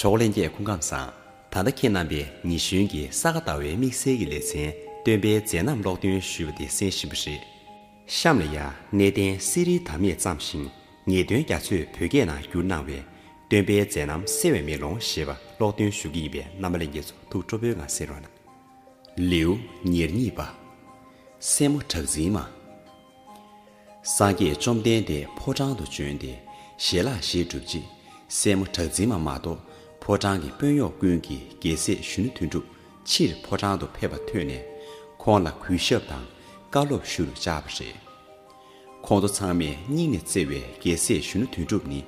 གྲོགས་ལྷན་རྒྱས་སྐུ་ཁམས་བཟང། ད་ལྟ་ཁྱེད་རྣམ་པས་ཉི་གཞོན་གྱི་ས་ག་ཟླ་བའི་དམིགས་བསལ་གྱི་ལེ་ཚན་སྟོན་པའི་མཛད་རྣམ་ཀློག་འདོན་ཞུས་པ་དེ་གསན་བཞིན་པ་རེད། གཤམ་ལ་ཡང་གནས་བརྟན་གསེར་རིའི་དར་མས་བརྩམས་ཤིང་ངེས་དོན་རྒྱ་མཚོས་བོད་སྐད་ནང་བསྒྱུར་གནང་བའི། སྟོན་པའི་མཛད་རྣམ་གསལ་བའི་མེ་ལོང་ཞེས་པ་ཀློག་འདོན་ཞུ་གི་ཡིན་པས་རྣམ་པ་ལེན་མཁན་ཚོ་ཐུགས་སྤྲོ་པོའི་ངང་གསན་རོགས་གནང། ལེའུ་ཉེར་གཉིས་པ། སྲས་མོ་གྲགས་འཛིན་མ། སངས་རྒྱས་བཅོམ་ལྡན་འདས་ཕོ་བྲང་དུ་བྱོན་ཏེ་ཞལ་ལག་བཞེས་གྲུབ་རྗེས་སྲས་མོ་གྲགས་འཛིན་མ་མ་གཏོགས་ཕོ་བྲང་གི་དཔོན་གཡོག་ཀུན་གྱིས་རྒྱལ་སྲས་གཞོན་ནུ་དོན་གྲུབ་ཕྱིར་ཕོ་བྲང་དུ་ཕེབས་པ་ཐོས་ནས་ཁོང་ལ་གུས་ཞབས་དང་བཀའ་སློབ་ཞུ་རུ་བཅར་བ་རེད། ཁོང་ཚོ་ཚང་མས་སྙིང་ནས་བརྩེ་བའི་རྒྱལ་སྲས་གཞོན་ནུ་དོན་གྲུབ་ནི་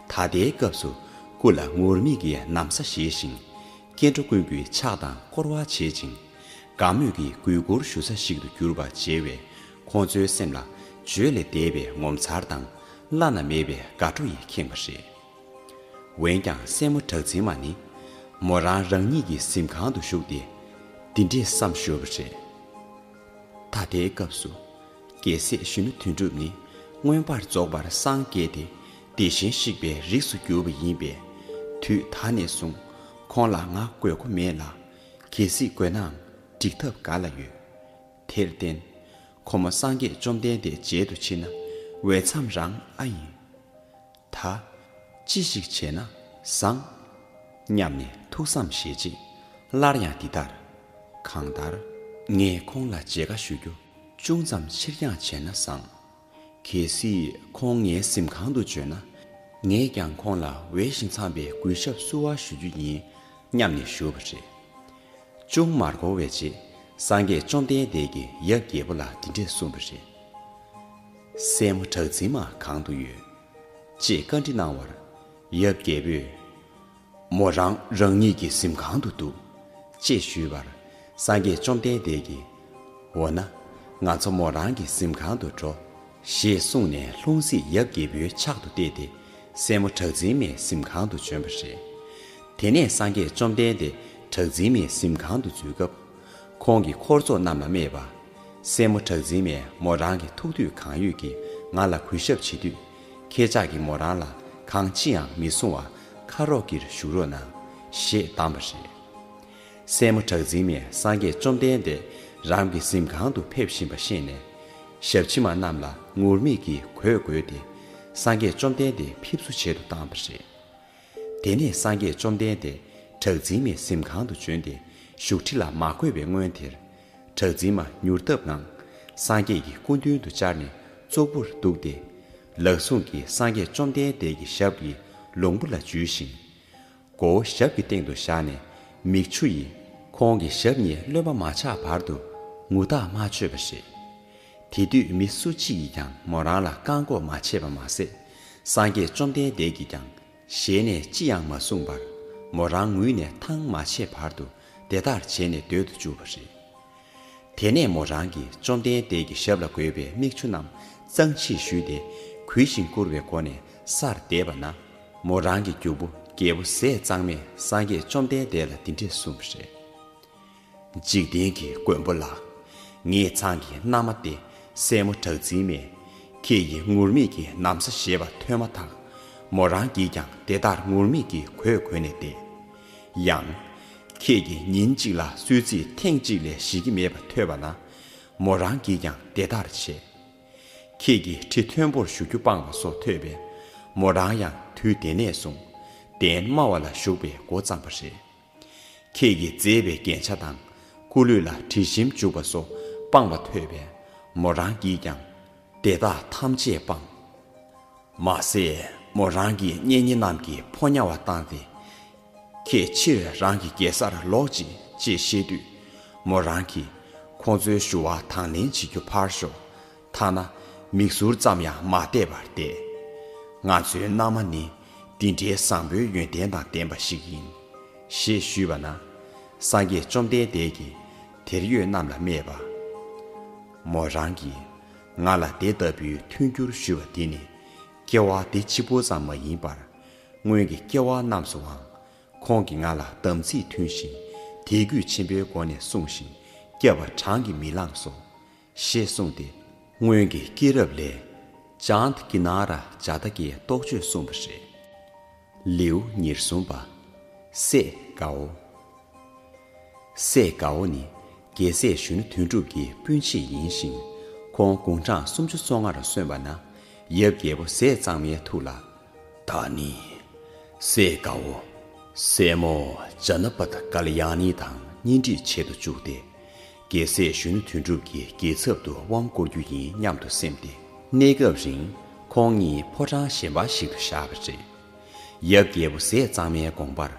ད་ལྟའི་སྐབས་སུ་སྐུ་ལ་ངུར་སྨྲིག་གི་གནམ་ས་བཞེས་ཤིང་སྐྱེ་འགྲོ་ཀུན་གྱི་ཕྱག་དང་བསྐོར་བ་བྱེད་ཅིང། དགའ་མོས་ཀྱིས་གུས་བཀུར་ཞུ་ས་ཞིག་ཏུ་གྱུར་པ་མཇལ་བས། ཁོང་ཚོའི་སེམས་ལ་བརྗོད་ལས་འདས་པའི་ངོ་མཚར་དང་བླ་ན་མེད་པའི་དགའ་སྤྲོ་ཡིས་ཁེངས་པ་རེད། འོན་ཀྱང་སྲས་མོ་གྲགས་འཛིན་མ་ནི། མོ་རང་རང་ཉིད་ཀྱི་གཟིམ་ཁང་དུ་བཞུགས་ཏེ་འདི་འདྲིས་བསམ་ཞོར་བ་རེད། ད་ལྟའི་སྐབས་སུ། རྒྱལ་སྲས་གཞོན་ནུ་དོན་གྲུབ་ནི་མངོན་པར་རྫོགས་པར་སངས་རྒྱས་ཏེ་བདེ་གཤེན་གཤེགས་པའི་རིགས་སུ་གྱུར་པ་ཡིན་པས། དུས་ད་ནས་བཟུང་ཁོང་ལ་ང་དགོས་མཁོ་མེད་ལ། གལ་སྲིད་དགོས་ནའང་འགྲིག་ཐབས་ག་ལ་ཡོད། དེར་བརྟེན། ཁོ་མོ་སངས་རྒྱས་བཅོམ་ལྡན་འདས་མཇལ་དུ་ཕྱིན་ན་འོས་འཚམས་རང་ཨ་ཡིན། ད། ཅི་ཞིག་བྱས་ན་བཟང། སྙམ་ནས་ཐུགས་བསམ་བཞེས་རྗེས་སླར་ཡང་འདི་ལྟར། གང་ལྟར། ངས་ཁོང་ལ་མཇལ་ཁ་ཞུ་རྒྱུ་ཅུང་ཙམ་ཕྱིར་འགྱངས་བྱས་ན་བཟང། གལ་སྲིད་ཁོང་ངའི་གཟིམ་ཁང་དུ་བྱོན་ན། ངས་ཀྱང་ཁོང་ལ་འོས་ཤིང་འཚམས་པའི་གུས་ཞབས་བསུ་བ་ཞུ་རྒྱུ་ཡིན་སྙམ་ནས་ཞུ་བ་རེད། ཅུང་མར་འགོར་བའི་རྗེས་སངས་རྒྱས་བཅོམ་ལྡན་འདས་ཀྱིས་ཡབ་རྒྱལ་པོ་ལ་འདི་འདྲས་གསུངས་པ་རེད། སྲས་མོ་གྲགས་འཛིན་མ་གང་དུ་ཡོད། ཅེས་བཀའ་འདྲི་གནང་བར། ཡབ་རྒྱལ་པོས། མོ་རང་རང་ཉིད་ཀྱི་གཟིམ་ཁང་དུ་འདུག། ཅེས་ཞུས་པར། སངས་རྒྱས་བཅོམ་ལྡན་འདས་ཀྱིས། འོ་ན། ང་ཚོ་མོ་རང་གི་གཟིམ་ཁང་དུ་འགྲོ། ཞེས་གསུངས་ནས་ལྷུང་བཟེད་ཡབ་རྒྱལ་པོའི་ཕྱག་ཏུ་གཏད་དེ། སྲས་མོ་བྲག་འཛིན་མའི་གཟིམ་ཁང་དུ་བྱོན་པ་རེད། དེ་ནས་སངས་རྒྱས་བཅོམ་ལྡན་འདས་བྲག་འཛིན་མའི་གཟིམ་ཁང་དུ་འཛུལ་སྐབས། ཁོང་གིས་འཁོར་ཚོགས་རྣམས་ལ་སྨྲས་པ། སྲས་མོ་བྲག་འཛིན་མས་མོ་རང་གི་ཐུགས་དུས་གང་ཡོད་ཀྱིས་ང་ལ་གུས་ཞབས་བྱེད་དུས། ཁྱེད་ཅག་གིས་མོ་རང་ལ་གང་ཅི་ཡང་མི་གསུང་བར་ཁ་རོག་གེར་བཞུགས་རོགས་གནང། ཞེས་གདམས་པ་རེད། སྲས་མོ་གྲགས་འཛིན་མས་སངས་རྒྱས་བཅོམ་ལྡན་འདས་རང་གི་གཟིམ་ཁང་དུ་ཕེབས་བཞིན་པ་ཤེས་ནས། ཞབས་ཕྱི་མ་རྣམས་ལ་ངུར་སྨྲིག་གིས་གོས་བགོས་ཏེ། སངས་རྒྱས་བཅོམ་ལྡན་འདས་ཕེབས་བསུ་བྱེད་དུ་བཏང་བ་རེད། དེ་ནས་སངས་རྒྱས་བཅོམ་ལྡན་འདས་གྲགས་འཛིན་མས་གཟིམ་ཁང་དུ་བྱོན་ཏེ་བཞུགས་ཁྲི་ལ་མ་བགོས་པའི་སྔོན་དེར། གྲགས་འཛིན་མ་མྱུར་སྟབས་ངང། སངས་རྒྱས་ཀྱི་སྐུ་མདུན་དུ་བཅར་ནས་ཙོག་པུར་འདུག་སྟེ། ལག་ཟུང་གིས་སངས་རྒྱས་བཅོམ་ལྡན་འདས་ཀྱི་ཞབས་ཀྱི་ལོང་བུ་ལ་འཇུས་ཤིང། མགོ་བོ་ཞབས་ཀྱི་སྟེང་དུ་བཞག་ནས་མིག་ཆུ་ཡིས་ཁོང་གི་ཞབས་གཉིས་རློན་པ་མ་ཆགས་བར་དུ་ངུ་རྟགས་མ་ཆོད་པ་རེད། དེ་དུས་མི་སུ་གཅིག་གིས་ཀྱང་མོ་རང་ལ་བཀག་འགོག་མ་བྱས་པ་མ་ཟད། སངས་རྒྱས་བཅོམ་ལྡན་འདས་ཀྱིས་ཀྱང་ཞལ་ནས་ཅི་ཡང་མ་གསུངས་པར་མོ་རང་ངུས་ནས་ཐང་མ་ཆད་བར་དུ་དེ་ལྟར་བྱས་ནས་སྡོད་དུ་བཅུག་པ་རེད། དེ་ནས་མོ་རང་གིས་བཅོམ་ལྡན་འདས་ཀྱི་ཞབས་ལ་འགོད་པའི་མིག་ཆུ་རྣམས་གཙང་ཕྱིར་བཞུས་ཏེ་གུས་ཤིང་བཀུར་བའི་སྒོ་ནས་སར་བསྡད་པ་ན་མོ་རང་གི་རྒྱུ་བུ་རྒྱལ་པོ་ཟས་གཙང་མས་སངས་རྒྱས་བཅོམ་ལྡན་འདས་ལ་འདི་འདྲས་གསུངས་པ་རེད། འཇིག་རྟེན་གྱི་མགོན་པོ་ལགས། ངེད་ཚང་གི་མནའ་མ་སྟེ་སྲས་མོ་གྲགས་འཛིན་མས། ཁྱེད་ཀྱིས་ངུར་སྨྲིག་གི་ནམ་ཟ་ཞེས་པ་ཐོས་མ་ཐག། མོ་རང་གིས་ཀྱང་དེ་ལྟར་ངུར་སྨྲིག་གི་གོས་གོན་ནས་བསྡད། ཡང། ཁྱེད་ཀྱིས་ཉིན་གཅིག་ལ་སུལ་ཚིག་ཐེངས་གཅིག་ལས་བཞེས་ཀྱི་མེད་པ་ཐོས་པ་ན། མོ་རང་གིས་ཀྱང་དེ་ལྟར་བྱས། ཁྱེད་ཀྱིས་ཁྲི་མཐོན་པོར་བཞུགས་རྒྱུ་སྤངས་པ་སོགས་ཐོས་པས། མོ་རང་ཡང་དུས་དེ་ནས་བཟུང། གདན་དམའ་བ་ལ་བཞུགས་པའི་འགོ་བརྩམས་པ་རེད། ཁྱེད་ཀྱིས་མཛེས་པའི་རྒྱན་ཆ་དང། སྐུ་ལུས་ལ་དྲི་ཞིམ་བྱུགས་པ་སོགས་སྤངས་པ་ཐོས་པས་མོ་རང་གིས་ཀྱང་དེ་དག་ཐམས་ཅད་སྤངས། མ་ཟད་མོ་རང་གི་གཉེན་ཉེ་རྣམས་ཀྱིས་ཕོ་ཉར་བ་བཏང་སྟེ། ཁྱེད་ཕྱིར་རང་གི་རྒྱལ་སར་ལོག་ཅིག་ཅེས་བཤད་དུས། མོ་རང་གིས་ཁོང་ཚོའི་ཞུ་བ་དང་ལེན་བྱེད་རྒྱུ་ཕར་ཞོག་ཐ་ན་མིག་ཟུར་ཙམ་ཡང་མ་བལྟས་པར་བསྡད། ང་ཚོའི་མནའ་མ་ནི་འདི་འདྲའི་བཟང་པོའི་ཡོན་ཏན་དང་ལྡན་པ་ཞིག་ཡིན། ཞེས་ཞུས་པ་ན། སངས་རྒྱས་བཅོམ་ལྡན་འདས་ཀྱིས་དེར་ཡོད་རྣམས་ལ་སྨྲས་པ། མོ་རང་གིས་ང་ལ་དེ་ལྟ་བུའི་མཐུན་འགྱུར་ཞུ་བ་འདི་ནི། སྐྱེ་བ་འདི་ཕྱི་པོ་ཙམ་མ་ཡིན་པར། སྔོན་གྱི་སྐྱེ་བ་རྣམས་སུའང་ཁོང་གིས་ང་ལ་དམ་ཚིག་མཐུན་ཞིང་དད་གུས་ཆེན་པོའི་སྒོ་ནས་བསྲུངས་ཤིང་བསྐྱབས་པ་བགྲང་གིས་མི་ལངས་སོ། ཞེས་གསུངས་ཏེ། སྔོན་གྱི་སྐྱེས་རབས་ལས། ལྗང་གི་ན་ར་བྱ་རྟ་ཀའི་རྟོགས་བརྗོད་གསུངས་པ་རེད། ལེའུ་ཉེར་གསུམ་པ། སྲས་གའོ། སྲས་གའོ་ནི་རྒྱལ་སྲས་གཞོན་ནུ་དོན་གྲུབ་ཀྱི་སྤུན་མཆེད་ཡིན་ཞིང། ཁོང་དགུང་གྲངས་སུམ་ཅུ་སོ་ལྔར་སོན་པ་ན། ཡབ་རྒྱལ་པོ་ཟས་གཙང་མའི་ཐུགས་ལ། ད་ནི་སྲས་གའོ། སྲས་མོ་ཇཱ་ནཱ་པ་ཏཀ་ལ་ཡང་ནི་དང་གཉེན་སྒྲིག་བྱེད་དུ་བཅུག་སྟེ། རྒྱལ་སྲས་གཞོན་ནུ་དོན་གྲུབ་ཀྱི་རྒྱལ་ཚབ་ཏུ་དབང་བསྐུར་རྒྱུ་ཡིན་སྙམ་དུ་སེམས་ཏེ། གནས་སྐབས་རིང་ཁོང་གཉིས་ཕོ་བྲང་གཞན་པ་ཞིག་ཏུ་བཞག་པ་རེད། ཡབ་རྒྱལ་པོ་ཟས་གཙང་མའི་དགོངས་པར་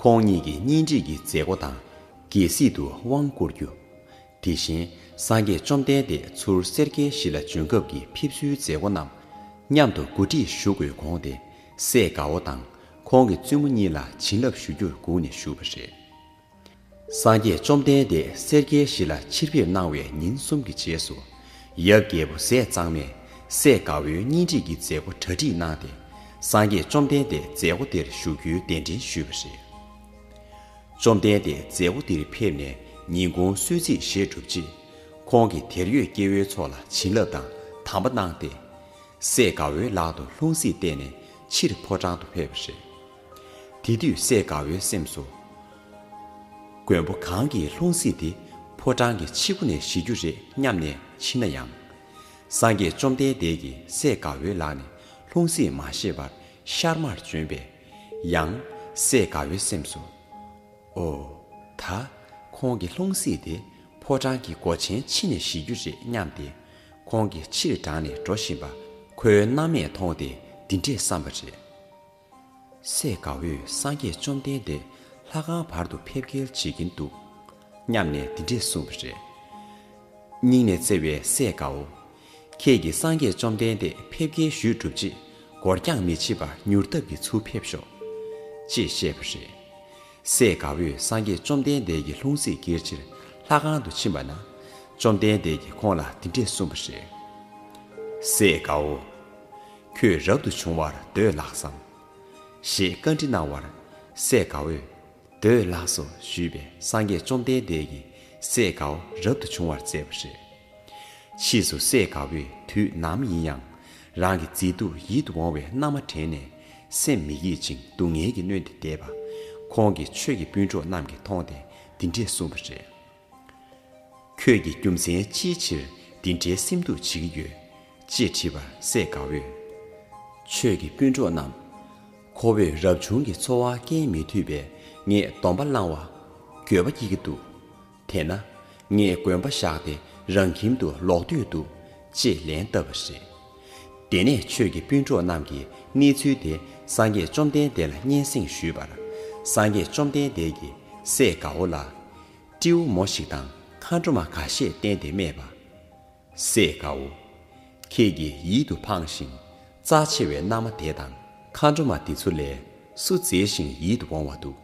ཁོང་གཉིས་ཀྱི་གཉེན་སྒྲིག་གི་མཛད་སྒོ་དང་རྒྱལ་སྲིད་དུ་དབང་བསྐུར་རྒྱུ། དེ་བཞིན་སངས་རྒྱས་བཅོམ་ལྡན་འདས་ཚུར་གསེར་གྱི་གཞི་ལ་འབྱོན་སྐབས་ཀྱི་ཕེབས་བསུའི་མཛད་སྒོ་རྣམས་མཉམ་དུ་གོ་སྒྲིག་ཞུ་དགོས་དགོངས་ཏེ་སྲས་དགའ་བོ་དང་ཁོང་གི་བཙུན་མོ་གཉིས་ལ་བྱིན་རླབས་ཞུ་རྒྱུར་སྒུག་ནས་བཞུགས་པ་རེད། སངས་རྒྱས་བཅོམ་ལྡན་འདས་སེར་སྐྱའི་གཞི་ལ་ཕྱིར་ཕེབས་གནང་བའི་ཉིན་གསུམ་གྱི་རྗེས་སུ། ཡབ་རྒྱལ་པོ་ཟས་གཙང་མས་སྲས་དགའ་བོའི་གཉེན་སྒྲིག་གི་མཛད་སྒོ་གྲ་སྒྲིག་གནང་སྟེ་སངས་རྒྱས་བཅོམ་ལྡན་འདས་མཛད་སྒོ་དེར་བཞུགས་རྒྱུའི་གདན་འདྲེན་ཞུས་པ་རེད། བཅོམ་ལྡན་འདས་མཛད་སྒོ་འདིར་ཕེབས་ནས་ཉིན་གུང་གསོལ་ཚིགས་བཞེས་གྲུབ་རྗེས། ཁོང་གིས་དེར་ཡོད་སྐྱེ་བོའི་ཚོགས་ལ་བྱིན་རླབས་དང་དམ་པ་གནང་སྟེ། སྲས་དགའ་བོའི་ལག་ཏུ་ལྷུང་བཟེད་གཏད་ནས་ཕྱིར་ཕོ་བྲང་དུ་ཕེབས་པ་རེད། དེ་དུས་བསད་དགའ་བོའི་སེམས་སུ། མགོན་པོ་གང་གིས་ལྷུང་སྲིད་དེ་ཕོ་བྲང་གི་ཕྱི་སྒོ་ནས་ཞི་རྒྱུ་རེད་སྙམ་ནས་ཕྱིན་ན་ཡང། སངས་རྒྱས་བཅོམ་ལྡན་འདས་ཀྱིས་བསད་དགའ་བོའི་ལག་ནས་ལྷུང་སྲིད་མ་ཤེས་པར་ཤར་མར་བྱོན་པས། ཡང། བསད་དགའ་བོའི་སེམས་སུ། ཨོ། ད། ཁོང་གིས་ལྷུང་སྲིད་དེ་ཕོ་བྲང་གི་སྒོ་ཆེན་ཕྱི་ནས་ཞི་རྒྱུ་རེད་སྙམ་སྟེ། ཁོང་གིས་ཕྱིར་འབྲངས་ནས་འགྲོ་བཞིན་པ་ཁོའི་སྣང་མེད་མཐོང་སྟེ་འདི་འདྲས་བསམས་པ་རེད། སྲས་དགའ་བོས་སངས་རྒྱས་བཅོམ་ལྡན་འདས་ལྷ་ཁང་བར་དུ་ཕེབས་སྐྱེལ་བྱེད་ཀྱིན་འདུག་སྙམ་ནས་འདི་འདྲས་གསུངས་པ་རེད། སྙིང་ནས་བརྩེ་བའི་སྲས་དགའ་བོ། ཁྱེད་ཀྱིས་སངས་རྒྱས་བཅོམ་ལྡན་འདས་ཕེབས་སྐྱེལ་ཞུས་གྲུབ་རྗེས་འགོར་འགྱངས་མི་བྱེད་པར་མྱུར་སྟབས་ཀྱིས་ཚུར་ཕེབས་ཤོག། ཅེས་བཤད་པ་རེད། སྲས་དགའ་བོས་སངས་རྒྱས་བཅོམ་ལྡན་འདས་ཀྱི་ལྷུང་བཟེད་བསྐྱེལ་ཕྱིར་ལྷ་ཁང་དུ་ཕྱིན་པ་ན། བཅོམ་ལྡན་འདས་ཀྱིས་ཁོང་ལ་འདི་འདྲས་གསུངས་པ་རེད། སྲས་དགའ་བོ། ཁྱོད་རབ་ཏུ་བྱུང་བར་འདོད་ལགས་སམ། ཞེས་བཀའ་འདྲི་གནང་བར། སྲས་དགའ་བོས། འདོད་ལགས་སོ་ཞུས་པས་སངས་རྒྱས་བཅོམ་ལྡན་འདས་ཀྱིས་སྲས་དགའ་བོ་རབ་ཏུ་བྱུང་བར་མཛད་པ་རེད། ཕྱིས་སུ་སྲས་དགའ་བོས་དུས་ནམ་ཡིན་ཡང་རང་གི་མཛེས་སྡུག་ཡིད་དུ་འོང་བའི་མནའ་མ་དྲན་ནས་སེམས་མི་དགྱེས་ཅིང་སྡུག་བསྔལ་གྱིས་གནོན་ཏེ་བསྡད་པ། ཁོང་གིས་ཆོས་ཀྱི་སྤུན་གྲོགས་རྣམས་ཀྱིས་མཐོང་སྟེ་འདི་འདྲས་གསུངས་པ་རེད། ཁྱོད་ཀྱི་རྒྱུ་མཚན་ཅིའི་ཕྱིར་འདི་འདྲའི་སེམས་སྡུག་བྱེད་ཀྱི་ཡོད། ཅེས་དྲིས་པར་སྲས་དགའ་བོས། ཆོས་ཀྱི་སྤུན་གྲོགས་རྣམས། ཁོ་བོས་རབ་བྱུང་གི་འཚོ་བ་སྐྱེལ་མི་ཐུབ་པས་ངས་སྡོམ་པ་བླང་བ། འགྱོད་པ་སྐྱེ་གི་འདུག་དེས་ན། ངས་དགོན་པ་བཞག་སྟེ་རང་ཁྱིམ་དུ་ལོག་འདོད་འདུག་ཅེས་ལན་བཏབ་པ་རེད། དེ་ནས་ཆོས་ཀྱི་སྤུན་གྲོགས་རྣམས་ཀྱིས་གནས་ཚུལ་དེ་སངས་རྒྱས་བཅོམ་ལྡན་འདས་ལ་སྙན་གསེང་ཞུས་པར། སངས་རྒྱས་བཅོམ་ལྡན་འདས་ཀྱིས་སྲས་དགའ་བོ་ལ། སྤྲེའུ་མོ་ཞིག་དང་མཁའ་འགྲོ་མ་འགའ་ཤས་བསྟན་ཏེ་སྨྲས་པ། སྲས་དགའ་བོ། ཁྱེད་ཀྱིས་ཡིད་དུ་འཕངས་ཤིང་རྩ་ཆེ་བའི་མནའ་མ་དེ་དང་མཁའ་འགྲོ་མ་དེ་ཚུར་ལས་སུ་མཛེས་ཤིང་ཡིད་དུ་འོང་བ་འདུག།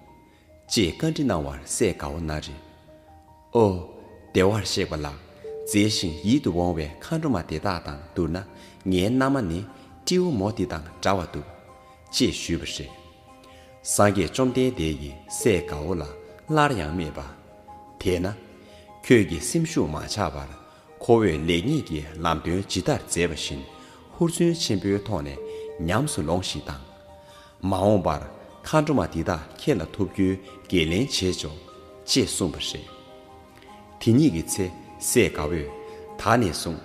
ཅེས་བཀའ་འདྲི་གནང་བར་སྲས་དགའ་བོ་ན་རེ། ཨོ། བདེ་བར་གཤེགས་པ་ལགས། མཛེས་ཤིང་ཡིད་དུ་འོང་བའི་མཁའ་འགྲོ་མ་དེ་དག་དང་བསྡུར་ན་ངའི་མནའ་མ་ནི་སྤྲེའུ་མོ་འདི་དང་འདྲ་བ་འདུག། ཅེས་ཞུས་པ་རེད། སངས་རྒྱས་བཅོམ་ལྡན་འདས་ཀྱིས་སྲས་དགའ་བོ་ལ་སླར་ཡང་སྨྲས་པ། དེས་ན། ཁྱོད་ཀྱི་སེམས་ཤུགས་མ་ཆག་པར་ཁོ་བོས་ལེགས་ཉེས་ཀྱི་ལམ་སྟོན་ཇི་ལྟར་མཛད་པ་བཞིན་ཧུར་བརྩོན་ཆེན་པོའི་ཐོག་ནས་ཉམས་སུ་ལོངས་ཤིག་དང། མ་འོངས་པར་མཁའ་འགྲོ་མ་འདི་དག་ཁྱེད་ལ་ཐུག་རྒྱུའི་འགན་ལེན་བྱེད་ཆོག། ཅེས་གསུངས་པ་རེད། དེ་ཉིད་ཀྱི་ཚེ་སྲས་དགའ་བོས། ད་ནས་བཟུང་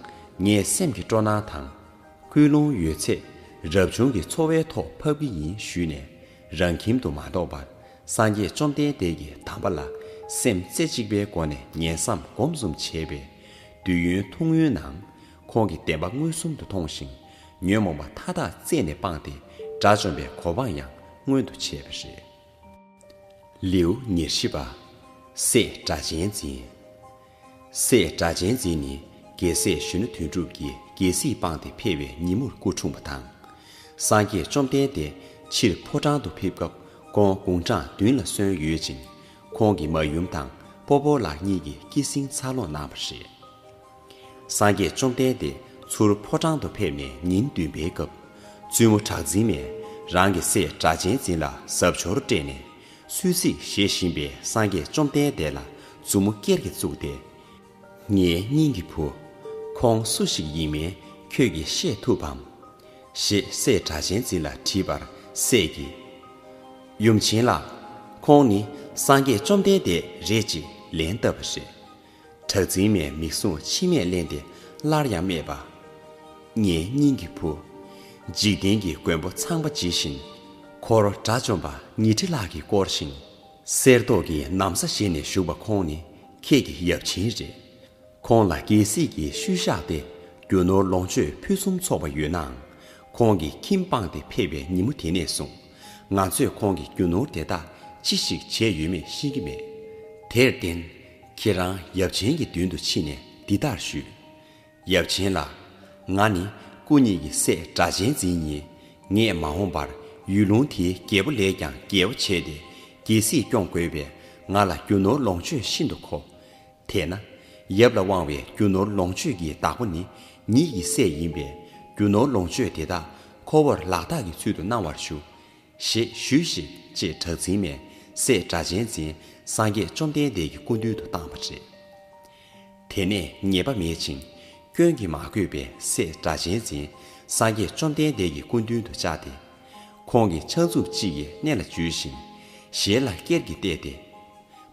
ངས་སེམས་ཀྱི་སྤྲོ་སྣང་དང། སྐུལ་སློང་ཡོད་ཚད་རབ་བྱུང་གི་འཚོ་བའི་ཐོག་ཕབ་ཀྱི་ཡིན་ཞུས་ནས་རང་ཁྱིམ་དུ་མ་ལྡོག་པར་སངས་རྒྱས་བཅོམ་ལྡན་འདས་ཀྱི་དམ་པ་ལ་སེམས་རྩེ་གཅིག་པའི་སྒོ་ནས་ཉན་བསམ་སྒོམ་གསུམ་བྱས་པས། དུས་ཡུན་ཐུང་ངུའི་ནང་ཁོང་གིས་བདེན་པ་མངོན་སུམ་དུ་མཐོང་ཞིང། ཉོན་མོངས་པ་མཐའ་དག་རྩད་ནས་སྤངས་ཏེ་དགྲ་བཅོམ་པའི་གོ་འཕང་ཡང་མངོན་དུ་བྱས་པ་རེད། ལེའུ་ཉེར་བཞི་པ། སྲས་སྒྲ་གཅན་འཛིན། སྲས་སྒྲ་གཅན་འཛིན་ནི་རྒྱལ་སྲས་གཞོན་ནུ་དོན་གྲུབ་ཀྱིས་རྒྱལ་སྲིད་སྤངས་ཏེ་ཕེབས་པའི་ཉིན་མོར་སྐུ་འཁྲུངས་པ་དང། སངས་རྒྱས་བཅོམ་ལྡན་འདས་ཕྱིར་ཕོ་བྲང་དུ་ཕེབས་སྐབས་ཀོང་དགུང་གྲངས་བདུན་ལ་སོན་ཡོད་ཅིང། ཁོང་གི་མ་ཡུམ་དང་སྤོ་བོ་ལགས་གཉིས་ཀྱིས་སྐྱེད་སྲིང་འཚར་ལོངས་གནང་བ་རེད། སངས་རྒྱས་བཅོམ་ལྡན་འདས་ཚུར་ཕོ་བྲང་དུ་ཕེབས་ནས་ཉིན་བདུན་པའི་སྐབས། བཙུན་མོ་གྲགས་འཛིན་མས་རང་གི་སྲས་སྒྲ་གཅན་འཛིན་ལ་གཟབ་འཆོར་སྤྲད་ནས། སུད་ཚིག་བཞེས་བཞིན་པའི་སངས་རྒྱས་བཅོམ་ལྡན་འདས་ལ་མཛུབ་མོ་ཀེར་གྱིས་བཙུགས་ཏེ། ངའི་སྙིང་གི་བུ། ཁོང་སུ་ཞིག་ཡིན་མིན་ཁྱོད་ཀྱིས་ཤེས་ཐུབ་བམ། ཞེས་སྲས་སྒྲ་གཅན་འཛིན་ལ་དྲིས་པར་སྲས་ཀྱིས། ཡུམ་ཆེན་ལགས། ཁོང་ནི་སངས་རྒྱས་བཅོམ་ལྡན་འདས་རེད་ཅེས་ལན་བཏབ་པ་རེད། བྲག་འཛིན་མས་མིག་ཟུང་མཆི་མས་བརླན་ཏེ་སླར་ཡང་སྨྲས་པ། ངའི་སྙིང་གི་བུ། འཇིག་རྟེན་གྱི་མགོན་པོ་ཚངས་པ་ཇི་བཞིན། འཁོར་དགྲ་བཅོམ་པ་ཉི་ཁྲི་ལྷག་གིས་བསྐོར་ཞིང། གསེར་མདོག་གི་ནམ་ཟ་བཞེས་ནས་བཞུགས་པ་ཁོང་ནི་ཁྱེད་ཀྱི་ཡབ་ཆེན་རེད། ཁོང་ལ་རྒྱལ་སྲིད་ཀྱི་ཤུལ་བཞག་སྟེ་རྒྱུ་ནོར་ལོངས་སྤྱོད་ཕུན་སུམ་ཚོགས་པ་ཡོད་ནའང། ཁོང་གི་ཁྱིམ་སྤངས་ཏེ་ཕེབས་པའི་ཉིན་མོ་དེ་ནས་བཟུང། ང་ཚོས་ཁོང་གི་རྒྱུ་ནོར་དེ་དག་ཅི་ཞིག་བྱས་ཡོད་མེད་ཤེས་ཀྱི་མེད། དེར་བརྟེན། ཁྱེད་རང་ཡབ་ཆེན་གྱི་མདུན་དུ་ཕྱིན་ནས་འདི་ལྟར་ཞུ། ཡབ་ཆེན་ལགས། ང་ནི་སྐུ་ཉིད་ཀྱི་སྲས་སྒྲ་གཅན་འཛིན་ཡིན། ངས་མ་འོངས་པར་ཡུལ་ལུང་དེའི་རྒྱལ་པོ་ལས་ཀྱང་རྒྱལ་བོ་བྱས་ཏེ་རྒྱལ་སྲིད་སྐྱོང་དགོས་པས་ང་ལ་རྒྱུ་ནོར་ལོངས་སྤྱོད་ཤིན་ཏུ་མཁོ། དེས་ན་ཡབ་ལ་དབང་བའི་རྒྱུ་ནོར་ལོངས་སྤྱོད་ཀྱི་བདག་པོ་ནི་ཉིད་ཀྱི་སྲས་ཡིན་པས་རྒྱུ་ནོར་ལོངས་སྤྱོད་དེ་དག་ཁོ་བོར་ལག་རྟགས་ཀྱི་ཚུལ་དུ་གནང་བར་ཞུ། ཞེས་ཞུས་ཤིག་ཅེས་གྲགས་འཛིན་མས་སྲས་སྒྲ་གཅན་འཛིན་སངས་རྒྱས་བཅོམ་ལྡན་འདས་ཀྱི་སྐུ་མདུན་དུ་བཏང་བ་རེད། དེ་ནས་ཉེས་པ་མེད་ཅིང་སྐྱོན་གྱིས་མ་གོས་པའི་སྲས་སྒྲ་གཅན་འཛིན་སངས་རྒྱས་བཅོམ་ལྡན་འདས་ཀྱི་སྐུ་མདུན་དུ་བཅར་ཏེ། ཁོང་གི་ཕྱག་མཛུབ་གཅིག་གིས་སྣེ་ལ་འཇུས་ཤིང། ཞལ་ལ་སྐེར་གྱིས་གཏད་དེ།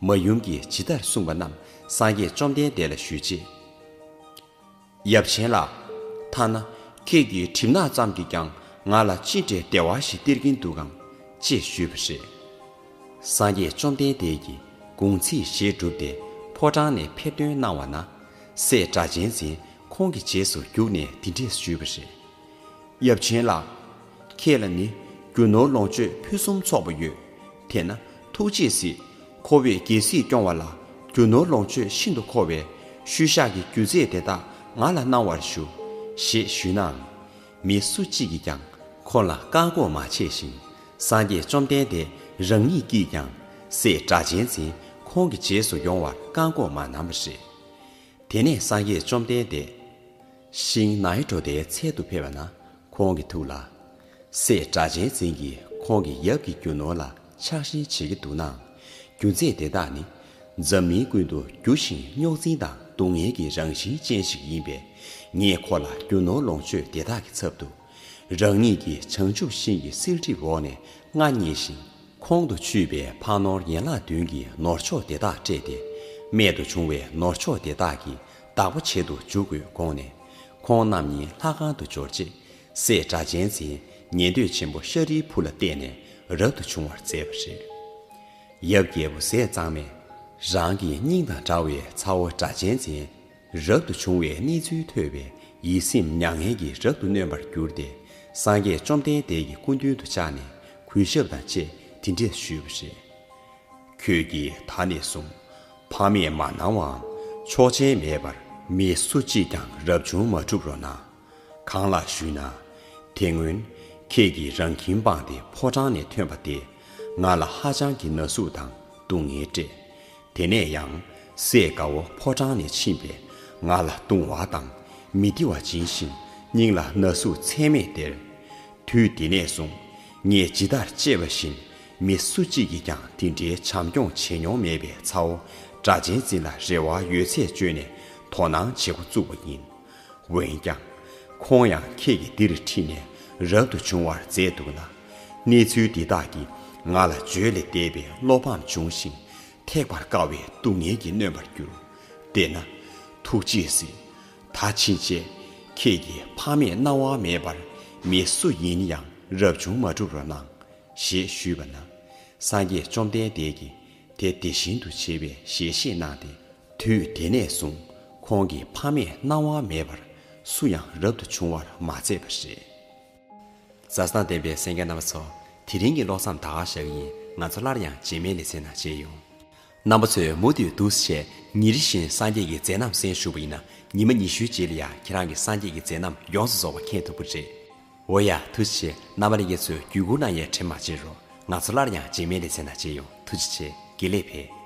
མ་ཡུམ་གྱིས་ཇི་ལྟར་གསུངས་པ་རྣམས་སངས་རྒྱས་བཅོམ་ལྡན་འདས་ལ་ཞུས་རྗེས། ཡབ་ཆེན་ལགས། ཐ་ན་ཁྱེད་ཀྱི་གྲིབ་ནག་ཙམ་གྱིས་ཀྱང་ང་ལ་ཅི་འདྲའི་བདེ་བ་ཞིག་སྟེར་གྱིན་འདུག་གམ། ཅེས་ཞུས་པ་རེད། སངས་རྒྱས་བཅོམ་ལྡན་འདས་ཀྱིས་དགུང་ཚིགས་བཞེས་བསྒྲུབས་ཏེ་ཕོ་བྲང་ནས་ཕེབས་སྟོན་གནང་བ་ན། སྲས་སྒྲ་གཅན་འཛིན་ཁོང་གི་རྗེས་སུ་བརྒྱུགས་ནས་འདི་འདྲས་ཞུས་པ་རེད། ཡབ་ཆེན་ལགས། ཁྱེད་ལ་ནི་རྒྱུ་ནོར་ལོངས་སྤྱོད་ཕུན་སུམ་ཚོགས་པ་ཡོད། དེས་ན་ཐུགས་རྗེས་གཟིགས། ཁོ་བོས་རྒྱལ་སྲིད་སྐྱོང་བ་ལ་རྒྱུ་ནོར་ལོངས་སྤྱོད་ཤིན་ཏུ་མཁོ་བས་ཤུལ་བཞག་གི་རྒྱུ་རྫས་དེ་དག་ང་ལ་གནང་བར་ཞུ། ཞེས་ཞུས་ནའང། མི་སུ་གཅིག་གིས་ཀྱང་ཁོ་ལ་བཀག་འགོག་མ་བྱས་ཤིང་སངས་རྒྱས་བཅོམ་ལྡན་འདས་རང་ཉིད་ཀྱིས་ཀྱང་སྲས་སྒྲ་གཅན་འཛིན་ཁོང་གི་རྗེས་སུ་ཡོང་བར་བཀག་འགོག་མ་གནང་བ་རེད། དེ་ནས་སངས་རྒྱས་བཅོམ་ལྡན་འདས། ཤིང་ནཱའི་བྲོ་དེའི་ཚལ་དུ་ཕེབས་པ་ན་ཁོང་གི་ཐུགས་ལ། སྲས་དགྲ་ཆེན་འཛིན་གྱིས་ཁོང་གི་ཡབ་ཀྱི་རྒྱུ་ནོར་ལ་ཆགས་ཞེན་བྱེད་ཀྱི་འདུག་ནའང། རྒྱུ་མཚན་དེ་དག་ནི། འཛམ་གླིང་ཀུན་ཏུ་རྒྱུ་ཞིང་རྙོག་འཛིང་དང་སྡུག་བསྔལ་གྱི་རང་བཞིན་ཅན་ཞིག་ཡིན་པས། ངས་ཁོ་ལ་རྒྱུ་ནོར་ལོངས་སྤྱོད་དེ་དག་གི་ཚབ་ཏུ། རང་ཉིད་ཀྱིས་བྱང་ཆུབ་ཤིང་གི་བསིལ་གྲིབ་འོག་ནས་མངའ་བརྙེས་ཤིང། ཁོང་དུ་ཆུད་པའི་ཕག་ནོར་ཡན་ལག་བདུན་གྱི་ནོར་མཆོག་དེ་དག་སྤྲད་དེ། རྨད་དུ་བྱུང་བའི་ནོར་མཆོག་དེ་དག་གིས་བདག་པོ་བྱེད་དུ་འཇུག་དགོས་དགོངས་ནས། ཁོང་རྣམས་ཉིད་ལྷ་ཁང་དུ་འབྱོར་རྗེས། སྲས་སྒྲ་གཅན་འཛིན་ཉན་ཐོས་ཆེན་པོ་ཤཱ་རིའི་བུ་ལ་བསྟན་ནས་རབ་ཏུ་བྱུང་བར་མཛད་པ་རེད། ཡབ་རྒྱལ་པོ་ཟས་གཙང་མས། རང་གི་སྙིང་དང་འདྲ་བའི་ཚ་བོ་སྒྲ་གཅན་འཛིན་རབ་ཏུ་བྱུང་བའི་གནས་ཚུལ་ཐོས་པས་ཡིད་སེམས་མྱ་ངན་གྱིས་རབ་ཏུ་གནོན་པར་གྱུར་ཏེ་སངས་རྒྱས་བཅོམ་ལྡན་འདས་ཀྱི་སྐུ་མདུན་དུ་བཅར་ནས་གུས་ཞབས་དང་བཅས་དེ་འདྲས་ཞུས་པ་རེད། ཁྱོད་ཀྱིས་ད་ནས་བཟུང་ཕ་མས་མ་གནང་བའམ་ཆོག་མཆན་མེད་པར་མི་སུ་གཅིག་ཀྱང་རབ་བྱུང་མ་བསྒྲུབ་རོགས་གནང། གང་ལགས་ཞུས་ན། དེ་སྔོན་ཁྱེད་ཀྱིས་རང་ཁྱིམ་སྤངས་ཏེ་ཕོ་བྲང་ནས་ཐོན་པ་དེས་ང་ལ་ཧ་ཅང་གི་ན་ཟུག་དང་སྡུག་བསྔལ་སྤྲད། དེ་ནས་ཡང་སྲས་དགའ་བོ་ཕོ་བྲང་ནས་ཕྱིན་པས་ང་ལ་བཏུང་བ་དང་མི་བདེ་བ་སྦྱིན་ཞིང་སྙིང་ལ་ན་ཟུག་ཚད་མེད་སྟེར། དུས་དེ་ནས་བཟུང་ངས་ཇི་ལྟར་གཅེས་པ་བཞིན་མི་སུ་གཅིག་གིས་ཀྱང་དེ་འདྲའི་བྱམས་སྐྱོང་བྱེད་མྱོང་མེད་པའི་ཚའོ་སྒྲ་ཅན་ཙིན་ལ་རེ་བ་ཡོད་ཚད་བཅོལ་ནས་དོ་སྣང་བྱེད་འགོ་བཙུགས་པ་ཡིན། འོན་ཀྱང། ཁོང་ཡང་ཁྱེད་ཀྱིས་འདིར་ཁྲིད་ནས་རབ་ཏུ་བྱུང་བར་མཛད་འདུག་ན། གནས་ཚུལ་འདི་དག་གིས་ང་ལ་བརྗོད་ལས་འདས་པའི་བློ་ཕམ་བྱུང་ཞིང་ཐེག་པར་དཀའ་བའི་སྡུག་བསྔལ་གྱིས་ནོན་པར་གྱུར། དེས་ན། ཐུགས་རྗེས་གཟིགས། ད་ཕྱིན་ཆད་ཁྱེད་ཀྱི་ཕ་མས་གནང་དབང་མེད་པར་མི་སུ་ཡིན་ཡང་རབ་བྱུང་མ་བསྒྲུབ་རོགས་གནང། ཞེས་ཞུས་པ་ན། སངས་རྒྱས་བཅོམ་ལྡན་འདས་ཀྱིས་དེ་དེ་བཞིན་དུ་བྱེད་པའི་ཞལ་བཞེས་གནང་སྟེ། དུས་དེ་ནས་བཟུང་ཁོང་གི་ཕ་མས་གནང་དབང་མེད་པར་སུ་ཡང་རབ་ཏུ་བྱུང་བར་མ་མཛད་པ་རེད། བཟའ་ཟླ་ལྡན་པའི་སེང་གེ་རྣམ་པ་ཚོ་དེ་རིང་གི་ཀློག་མཚམས་ད་ག་ཞག་ཡིན་ང་ཚོ་སླར་ཡང་རྗེས་མའི་ལེ་ཚན་ནང་མཇལ་ཡོང། རྣམ་པ་ཚོས་མུ་མཐུད་འདུ་ཤེས་བྱས་ཉིན་རི་བཞིན་སངས་རྒྱས་ཀྱི་མཛད་རྣམ་གསན་ཞུ་བ་ཡིན་ན་ཉི་མ་ཉི་ཤུའི་རྗེས་ལ་ཡང་ཁྱེད་རང་གི་སངས་རྒྱས་ཀྱི་མཛད་རྣམ་ཡོངས་སུ་རྫོགས་པ་མཁྱེན་ཐུབ་ཀྱི་རེད། འོ་ཡ་ཐུགས་རྗེ་ཆེ་རྣམ་པ་ལས་ཀྱི་ཚོས་བརྒྱུད་བསྐུར་གནང་ཡས་ཁྲེལ་མ་བྱེད་རོགས་ང་ཚོ་སླར་ཡང་རྗེས་མའི་ལེ་ཚན་ན་མཇལ་ཡོང་ཐུགས་རྗེ་ཆེ་དགེ་ལེགས་འཕེལ།